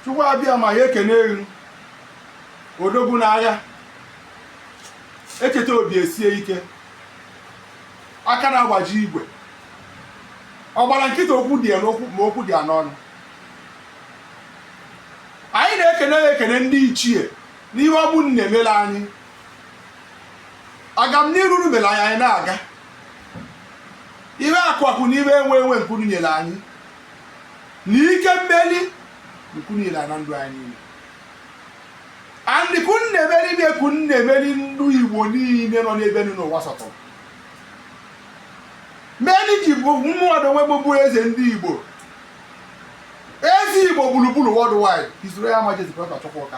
chukwu abịama ya ekene elu odogwu n'agha echeta obi esie ike aka na-agbaji igwe ọ gbara nkịtị okwu dị ya n'okwu ma okwu dị ya n'ọnụ anyị na-ekene ya ekene ndị ichie n'ihe ọ bụ na-emere anyị agamniru unu mere anyị anyị na-aga ihe akụ akụ na ihe enwe enwe nke unu nyere anyị na ike mmeli nke unu nyere na ndụ anyị niile and nke unu na-emere na nke unu na-emere ndị igbo niile nọ n'ebe ọ wụna ụwa sọtụrụ meni ji bụ mmadụ onwe gbogbo eze ndị igbo eze igbo gburugburu worldwide His Royal Majesty Prọfesọ Chukwuka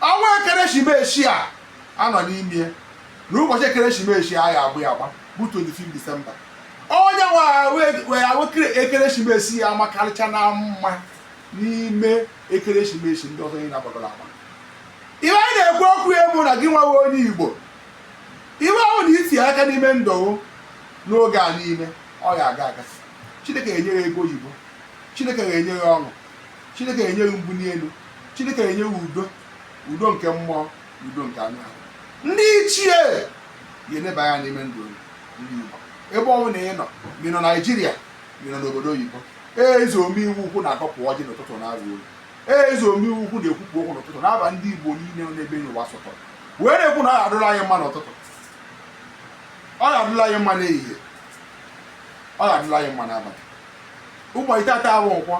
Ọnwa ekeresimesi a a nọ n'ime ya na ụbọchị ekeresimesi a ga-abụ ya agba bụ 25 Disemba. Onye nwe ahụ e- wee ahụ kere- ekeresimesi ya amakarịcha na mma n'ime ekeresimesi ndị ọzọ niile a gbagoro agba. Iwe anyị na-ekwu okwu ya bụ na gị nwa wụ onye Igbo iwe ọ wụna i ti aka n'ime ndụ n'oge a niile ọ ga-aga aga chineke ga-enye ya ego oyibo chineke ga-enye ya ọṅụ Chineke enye gị mbuli elu Chineke enye gị udo udo nke mmụọ udo nke anụ ahụ ndị ichie ga-eneba anya n'ime ndụ ndị Igbo ebe ọ wụna ị nọ ma ị nọ Naijiria ma ị nọ n'obodo oyibo ee eze omeihe ukwu na-agọpụ ọjị n'ụtụtụ na-arụ olu ee eze omeihe ukwu na-ekwupụ okwu n'ụtụtụ n'aha ndị Igbo niile n'ebe n'ụwa sọtọrọ wee na-ekwu na ọ ga-adụrụ anyị mma n'ụtụtụ ọ ga-adụrụ anyị mma n'ehihie ọ ga-adụrụ anyị mma n'abalị ụbọchị tata wụ nkwọ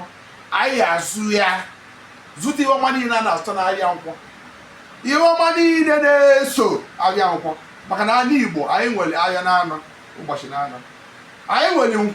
anyị azụ ya zụta ihe ọma niile a na-azụta n'ahịa nkwọ ihe ọma niile na-eso ahịa nkwọ maka na ala Igbo anyị nwere ahịa naanọ ụbọchị naanọ anyị nwere